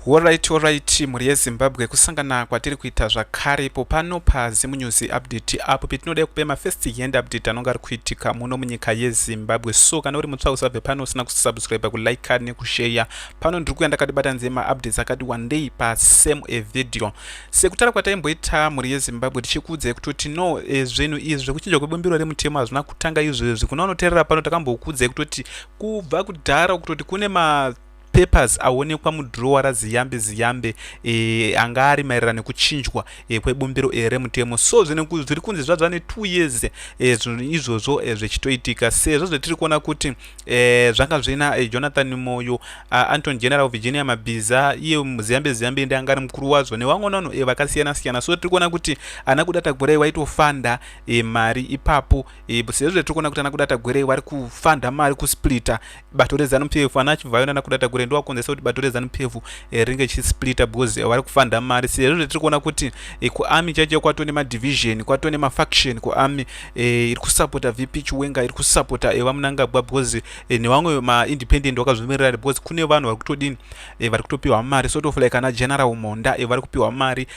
Horaiti horaiti mhuri yeZimbabwe kusangana kwatiri kuita zvakare ipo pano paZim News Update apo petinoda kupe mafirst hand update anonge ari kuitika muno munyika yeZimbabwe so kana uri mutsva usabve pano usina kusubscribe kuliker nekusheya pano ndiri kuya ndakatibata nzeye maupdates akati wandei pasame a video sekutara kwataimboita mhuri yeZimbabwe tichikuudzai kutoti no e, zvinhu izvi zvekuchinja kwebumbiro remutemo hazvina kutanga izvezvi kuna unoterera pano takambokuudzai kutoti kubva kudhara kutoti kune ma papers aonekwa mudhurowa raziyambe ziyambe e, anga ari maererano nekuchinjwa e, kwebumbiro e, remutemo so zviri kunzi zvadzva netwo years e, izvozvo e, zvichitoitika sezvo zvetiri kuona kuti e, zvanga zvina e, jonathan moyo anton general virginia mabhiza iye ziyambe ziyambe ndi anga ari mukuru wazvo nevamwe vanhu e, vakasiyana siyana so tiri kuona kuti ana kudata gwerei waitofanda e, mari ipapo e, sezvo tiri kuona kuti ana kudata gwerei vari kufanda mari kusplita bato reZanu PF ana Chivhayo nana Kudata Gure ndiwo akonzesa kuti bato reZanu PF eh, ringe chisplita because eh, vari kufanda mari sezvo zvatiri kuona kuti eh, kuami chaicho kwatone madivision kwatone mafaction kuami iri kusapota VP Chiwenga iri kusapota vaMunangagwa because nevamwe maindependent vakazvimirira because kune vanhu vari kutodini vari kutopiwa mari sort of like ana General Monda vari kupiwa mari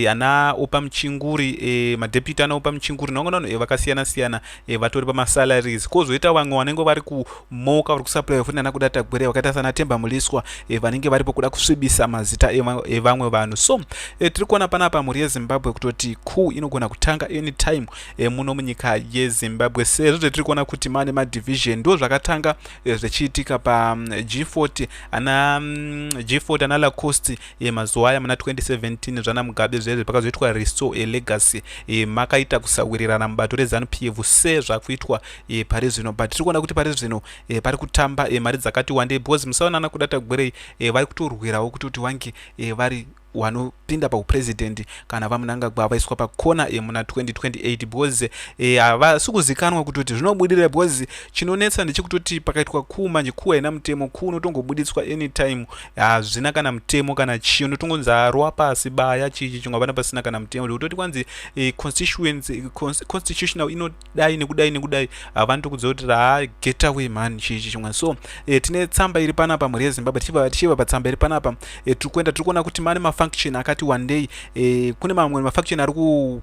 ana Opa Muchinguri madeputy ana Opa Muchinguri nevamwe vanhu vakasiyana siyana e, vatori pamasalaries kozoita vamwe vanenge vari kumoka vari kusaplaya futi nana kuda tagwere vakaita sana temba muliswa e, vanenge varipo kuda kusvibisa mazita evamwe e, vanhu so e, tiri kuona panapa mhuri yezimbabwe kutoti ku inogona kutanga anytime e, muno munyika yezimbabwe sezvo zvetiri kuona kuti mane madivision ndo zvakatanga e, zvechiitika pag40 ana mm, g40 ana lacost e, mazuva aya muna 2017 zvana mugabe zvezve pakazoitwa restore e, legacy e, makaita kusawirirana mubato rezanu p f sezvakuitwa e, pari zvino but tiri kuona kuti pari zvino e, pari kutamba e, mari dzakati wandei because musaonana kudata gwerei e, vari kutorwirawo kuti kuti wange e, vari wanopinda pauprezidendi kana vamunangagwa vaiswa pakona e, muna 2028 because e, havasi e, kuzikanwa kuti kuti zvinobudira because chinonetsa ndechekutoti pakaitwa kuu manje kuu haina mutemo kuu unotongobuditswa anytime hazvina kana mutemo kana chii unotongonzi arwa pasi baya chichi chingwa vana pasina kana mutemo zvekutoti kwanzi eh, constituency constitutional inodai nekudai nekudai havani tokudza kuti raa get away mhani chichi chingwa so eh, tine tsamba iri panapa mhuri yezimbabwe tichiva patsamba iri panapa eh, tiri kuenda tiri kuona kuti mane mafunction akati wandei eh, kune mamwe mafunction ari ku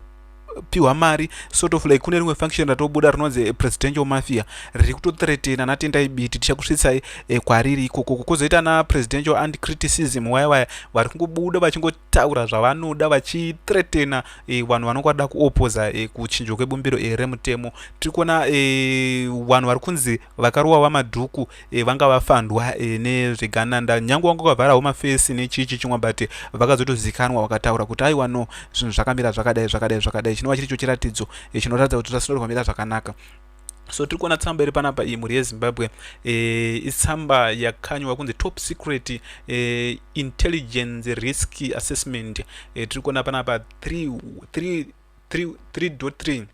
pihwa mari sort of like kune rimwe function ratobuda rinonzi eh, presidential mafia riri kutotretena natendai biti tichakusvitsai eh, kwariri ikoko kukozoita na presidential and criticism waya waya vari kungobuda vachingotaura zvavanoda vachitretena eh, vanhu vanonge vada kuopoza kuchinjwa kwebumbiro remutemo tiri kuona vanhu vari kunzi vakarowa vamadhuku e, vanga vafandwa e, nezvegananda nyange wanga ukavharawo mafesi nechii chichimwa but vakazotozikanwa vakataura kuti aiwa no zvinhu zvakamira zvakadai zvakadai zvakadai chinova chiri cho chiratidzo e, chinoratidza kuti zvasinoda kwamira zvakanaka so tiri kuona tsamba iri panapa iyi mhuri yezimbabwe e, itsamba yakanywa kunzi top secret e, intelligence risk assessment e, tiri kuona panapa 3 3 3 3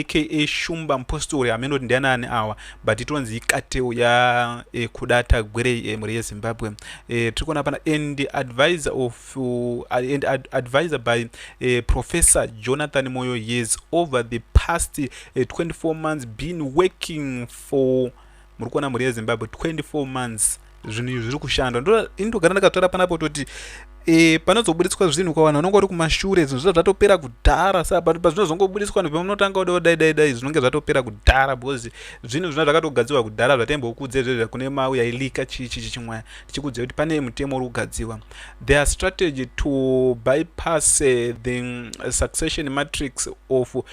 aka shumba mpostori hameno kuti ndianani awa but itonzi ikateu ya e, kudata gwerei e, mhuri yezimbabwe e, tiri kuona pana and advisor of uh, and ad, advisor by e, professor jonathan moyo yes over the past e, 24 months been working for muri kuona mhuri yezimbabwe 24 months zvinhu izvi zviri kushanda ini ndogara ndakatora panapo toti e, panozobuditswa zvinhu kwavanhu vanonge vari kumashure zvinhu zviza zvatopera kudhara sa but pazvinozongobuditswa nhu pamunotanga kuda kudai dai dai zvinonge zvatopera kudhara because zvinhu zvina zvakatogadzirwa kudhara zvataimbokudza izvezvo kune mau yailika chii chii chichimwaya tichikudzira kuti pane mutemo uri kugadzirwa their strategy to bypass uh, the mm, succession matrix of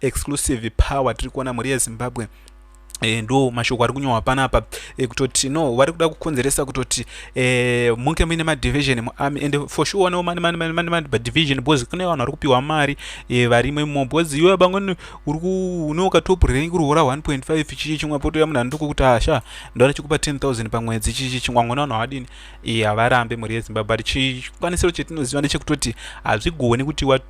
exclusive power tiri kuona mhuri yezimbabwe E, ndo mashoko ari kunyohwa panapa e, kutoti no vari kuda kukonzeresa kutoti e, munge muine madivision muarmy and for sure no mani mani mani mani mani division because kune vanhu vari kupiwa mari e, varimo imo because iwe bangoni uri ku une ukatop rank uri hora 1.5 chichi chimwe poto ya munhu anduko kuti asha ah, ndora chikupa 10000 pamwedzi chichi chimwe ngona vanhu havadini e, havarambe mhuri yezimbabwe but chikwanisiro chetinoziva ndechekutoti hazvigoni kuti wa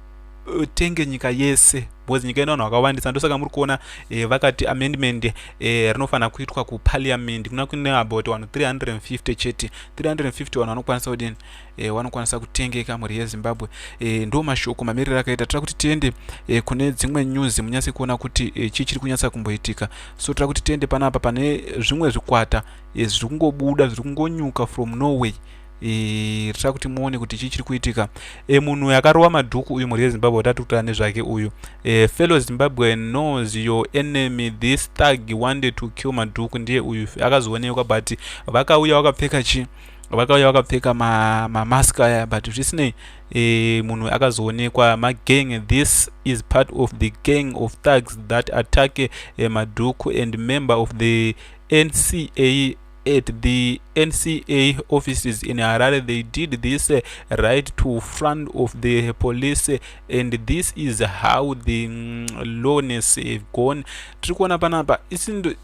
tenge nyika yese because nyika ino vanhu vakawandisa ndosaka muri kuona eh, vakati amendment eh, rinofanira kuitwa kupaliament kuna kune about vanhu 350 chete 350 vanhu vanokwanisa kudini eh, vanokwanisa kutengeka mhuri yezimbabwe eh, ndo mashoko mamiriro akaita tira kuti tiende eh, kune dzimwe news munyatse kuona kuti eh, chii chiri kunyatsa kumboitika so tira kuti tiende panapa pane zvimwe zvikwata eh, zviri kungobuda zviri kungonyuka from norway itai kuti muone kuti chii chiri kuitika e, munhu uyu akarova madhuku uyu mhuri yezimbabwe watati kutaura nezvake uyu e, fellow zimbabwe knows your enemy this thug wanted to kill madhuku ndiye uyu akazoonekwa but vakauya wakapfeka chi vakauya vakapfeka mamask ma aya but zvisinei e, munhu akazoonekwa magang this is part of the gang of thugs that attack e, madhuku and member of the nca at the NCA offices in Harare. They did this uh, right to front of the police uh, and this is how the um, mm, lowness have gone. Tiri kuona panapa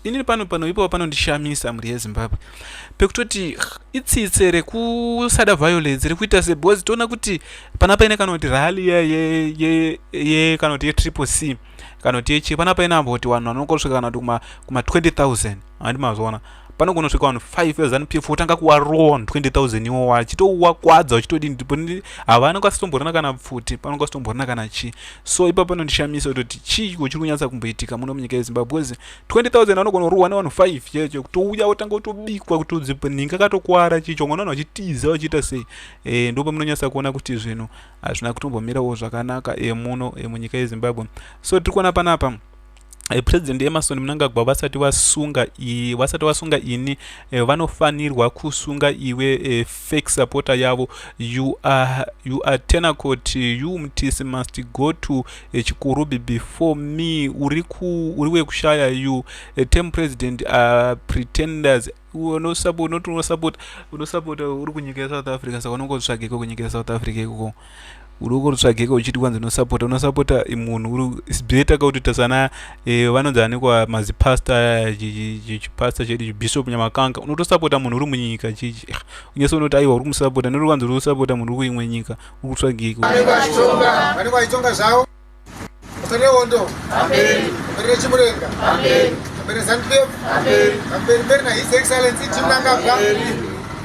inini pano pano ipo panondishamisa mhuri yeZimbabwe pekutoti itsitse rekusada violence rekuita se because toona kuti panapa ine kana kuti rally ye ye ye ye kana kuti ye triple C kana kuti yechi pana paina ambo kuti vanhu vanongosvika kana kuti kuma kuma 20000 handi mazviona pano kunosvika vanhu 5 zanu pf wotanga kuwarowa vanhu 20000 iwo wachitouwa kwadza uchitodini ndipo havana kwasitomborana kana pfuti pano kwasitomborana kana chii so ipa pano ndishamisa kutoti chii kuchiri kunyatsa kumboitika muno munyika yezimbabwe bcause 20000 vanogona kurohwa nevanhu 5 checho kutouya wotanga kutobikwa kuti udzipo ninga katokwara chicho ngona vanhu vachitiza vachiita sei e, eh, ndopamunonyatsa kuona kuti zvinhu hazvina kutombomirawo zvakanaka emuno emunyika yezimbabwe so tiri kuona panapa eh, president emerson munangagwa vasati vasunga vasati vasunga ini eh, vanofanirwa kusunga iwe eh, fake supporter yavo you are, you are tenacot you mtisi must go to chikurubi before me uri wekushaya you tem president are pretenders unosapota unosapota uri kunyika yesouth africa saka unongotsvageko kunyika yesouth africa ikoko uri ukotsvageko uchiti kwanzi unosapota unosapota munhu uri sbeta ka kutita sana eh, vanonzi anekwa mazipasta aya chipasta chedu chibishop nyamakanga unotosapota munhu uri munyika chichi ah, unyese unoti aiwa uri kumusapota nori kwanzi uri kusapota munhu uri kuimwe nyika uri kutsvageko Musanewondo. Amen. Mbere chimurenga. Amen. Mbere Zantlev. Amen. Mbere mbere na His Excellency Chimnangagwa. Amen.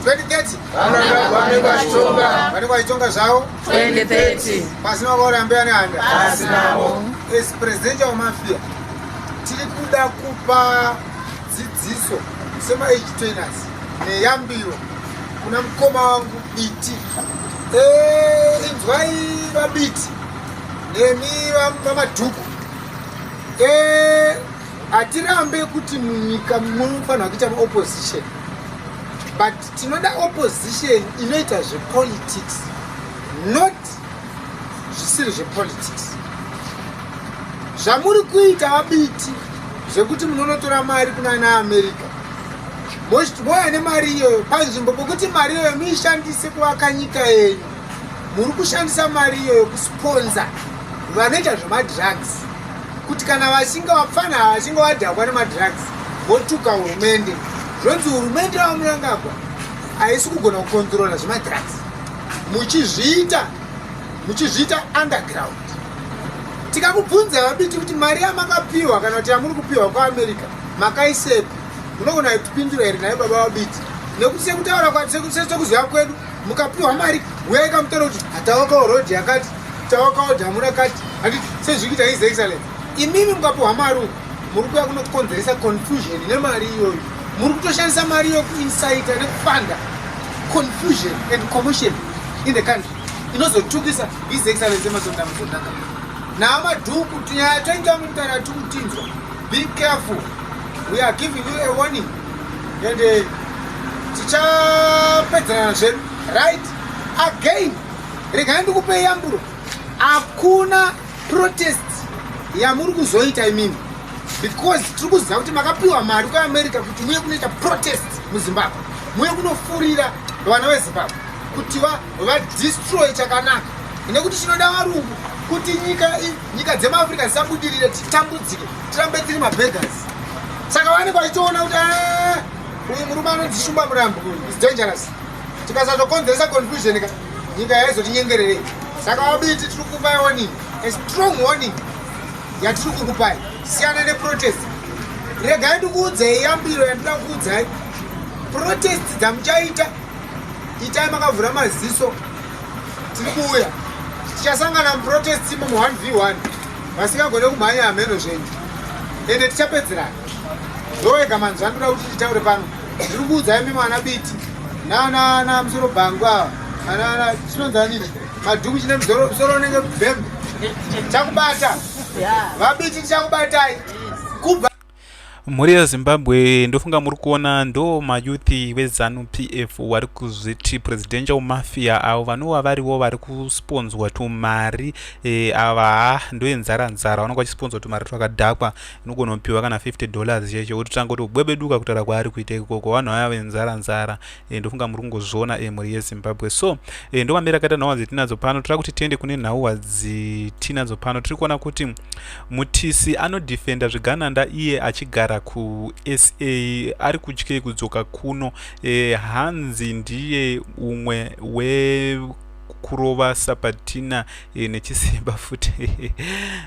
2030. Vanangagwa vane kwachitonga. Vane kwachitonga zvawo. 2030. Pasina wakaora mbeya nehanda. Pasinawo. As presidential of mafia tiri kuda kupa dzidziso sema age trainers neyambiro kuna mukoma wangu biti. Eh, inzwai vabiti. nemi vamadhuku eh, hatirambe kuti munyika munofanira kuita maopposition but tinoda opposition inoita zvepolitics not zvisiri zvepolitics zvamuri kuita vabiti zvekuti munonotora mari kuna ana america moya nemari iyoyo panzvimbo pokuti mari iyoyo muishandise kuvaka nyika yenyu muri kushandisa mari iyoyo kusponza vanoita zvemadrugs kuti kana vachinge vapfana ava vachinge vadhakwa nemadrugs votuka hurumende zvonzi hurumende yava murangagwa haisi kugona kukonzorola zvemadrugs muchizviita muchizviita underground tikakubvunza vabiti kuti mari yamakapiwa kana kuti yamuri kupiwa kuamerica makaisepi munogona kutipindura here naye baba vabiti nekuti sekutaura kwati sekuziva kwedu mukapiwa mari huyai kamutaura kuti hatawakawo road yakati tawakawo dhamu rakati handiti sezvikuita his excellence imimi mukapiwa mari uku muri kuya kunokonzeresa confusion nemari iyoyo muri kutoshandisa mari iyo kuinsita nekufanda confusion and commotion in the country inozotukisa his excellence emasondamusondaka naamadhuku tinyaya toinga mutara tikutinzwa Be careful. We are giving you a warning. And uh, tichapedzerana zvedu. Right? Again. Regai ndikupe yamburo. Hakuna protest yamuri kuzoita imimi. Because tiri kuziva kuti makapiwa mari kuamerica kuti muye kunoita protest muzimbabwe muye kunofurira vana vezimbabwe kuti vadestroy chakanaka nekuti chinoda varungu kuti nyika nyika dzemaafrica dzisabudirire titambudzike tirambe tiri mabegas saka vanenge vachitoona kuti ah, uyu murume anonzi shumba murambo is dangerous tikasazokonzeresa confusion ka nyika yaizotinyengererei saka wabiti tiri kukupai warning a strong warning yatiri kukupai siyana neprotest regai ndikuudzai yambiro yandida kuudzai protest dzamuchaita itai makavhura maziso tiri kuuya tichasangana muprotest imo mu 1 v 1 vasingagone kumhanya hameno zvenyu ende tichapedzerana ndowega manzi vandoda kuti titaure pano ndiri kuudza imi mwana biti nana musoro bhangu ava anana chinonzanini madhuku chine musoro unenge bhembe chakubata vabiti tichakubatai mhuri yezimbabwe ndofunga muri kuona ndo mayuthi wezanu pf wari kuzviti presidential mafia avo vanova varivo vari kusponzwa tumari e, ava ha ndoyenzara nzara vanonga vachisponzwa tumari twakadhakwa inogonopiwa kana 50 dollars cheche ototanga kutobwebeduka kutaura kwaari kuita ikoko vanhu vaya venzara nzara e, ndofunga muri kungozviona e, mhuri yezimbabwe so e, ndomamira akaita nhau dzatinadzo pano tira kuti tiende kune nhau dzitinadzo pano tiri kuona kuti mutisi anodefenda zvigananda iye achigara kusa ari kutyei kudzoka kuno e, hanzi ndiye umwe we kurova sapatina e, nechisimba futi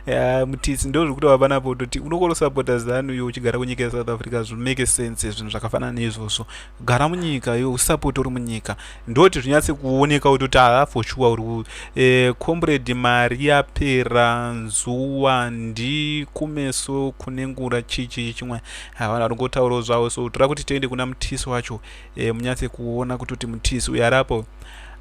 yeah, mutisi ndo zviri kutova panapo toti unokosapota zanu yo uchigara kunyika yesouth africa zvimake sense zvinhu zvakafanana neizvozvo gara munyika iwe usapoti uri munyika ndoti zvinyatse kuoneka kuti kuti haa for sure uri e, comrade mari yapera nzuwa ndi kumeso kune ngura chichi chimwe havana ringotaurawo zvavo so toda kuti tiende kuna mutisi wacho e, munyatse kuona kuti kuti mutisi uyo arapo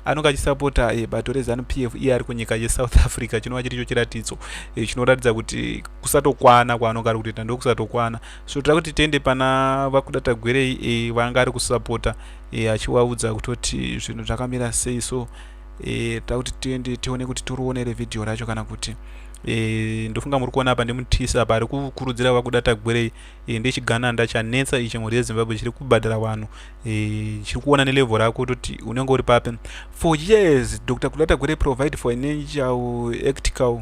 anonge achisapota e, bato rezanu p f iye ari kunyika yesouth africa chinova chiri cho chiratidzo e, chinoratidza kuti kusatokwana kwaanonge ari kutoita ndokusatokwana so toda kuti tiende pana vakuda tagwerei e, vanga ari kusapota e, achiwaudza kutoti zvinhu zvakamira sei so e, toda kuti tiende tione kuti toriwonere vhidhiyo racho kana kuti e, ndofunga muri kuona apa ndimutisa apa ari kukurudzira vakuda tagwerei e, ndechigananda chanetsa ichi mhuri yezimbabwe chiri kubhadhara vanhu e, chiri kuona nelevho rako toti unenge uri papi for years dr kuda tagwerei provide for an angel actical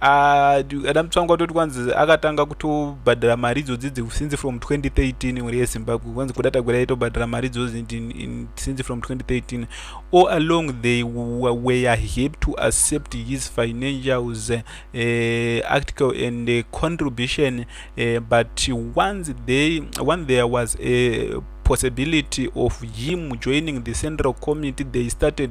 ada mutsvangu watoti kwanzi akatanga kutobhadhara mari idzodzi since from 2013 mhuri yezimbabwe kwanzi kuda tagwira yaitobhadhara mari idzodzi since from 2013 all along they were happy to accept his financials uh, eh, article and uh, contribution uh, but once they when there was a possibility of him joining the central committee they started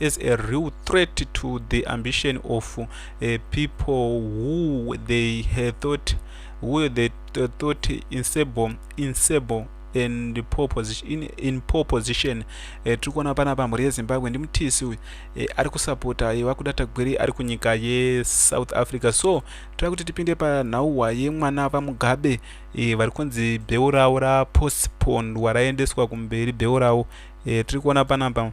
as a real threat to the ambition of uh, people who they had thought who they thought insable insable and poor position in, in poor position eh, tiri kuona pana pa mhuri yezimbabwe ndimutisi uyu eh, ari kusapota eh, vakuda tagwiri ari kunyika yesouth africa so tira kuti tipinde panhauwa yemwana vamugabe eh, vari kunzi bheu ravo rapostponed waraendeswa kumberi bheu ravo eh, tiri kuona panapa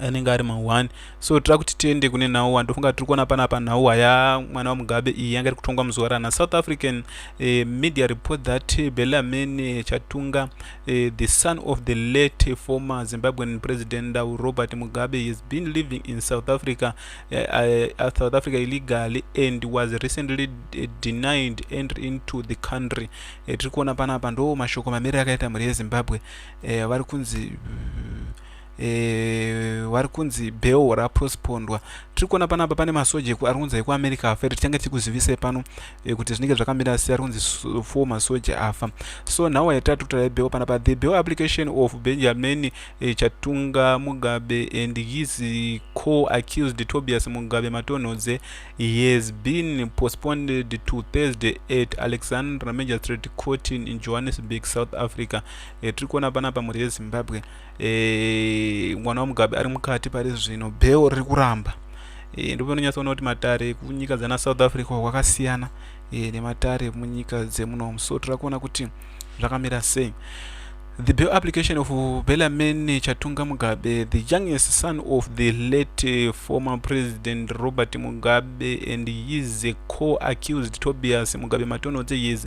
anenge ari mahwani so tira kuti tiende kune nhau wa ndofunga tiri kuona panapa nhau waya mwana wamugabe iyi yanga iri kutongwa muzuva rana south african eh, media report that eh, belamin eh, chatunga eh, the son of the late eh, former zimbabwean president uh, robert mugabe has been living in south africa eh, eh, uh, south africa illegally and was recently eh, denied entry into the country eh, tiri kuona panapa ndo mashoko mamiriro akaita mhuri yezimbabwe eh, vari kunzi uh, e, wari kunzi bell rapospondwa tiri kuona panapa pane masoja ari kunzi ekuamerica afa iri tichange tichikuzivisai pano e, kuti zvinenge zvakamira sei ari kunzi four masoja afa so nhau yatatu kutarai bell panapa the bell application of benjamin e, chatunga mugabe and his co accused tobias mugabe matonhodze he has been postponed to thursday at alexandra magistrate court in johannesburg south africa e, tiri kuona panapa mhuri yezimbabwe e, mwana wamugabe ari mukati pari zvino bheo riri kuramba e, ndipo inonyatsoona kuti matare kunyika dzana south africa kwakasiyana e, nematare munyika dzemunomu so tira kuona kuti zvakamira sei The bail application of Bellarmine Chatunga Mugabe, the youngest son of the late uh, former President Robert Mugabe and his co-accused Tobias Mugabe Matonodze is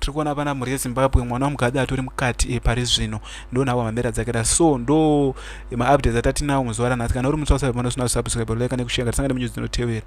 tiri kuona pana mhuri yezimbabwe mwana wamukadzi atori mukati e pari zvino ndo nhawa mambera dzake da so ndo maupdates atatinawo muzuva ranhasi kana uri mutsausavepanosina kusubscribe like nekushare ngatisangane munyuzi dzinotevera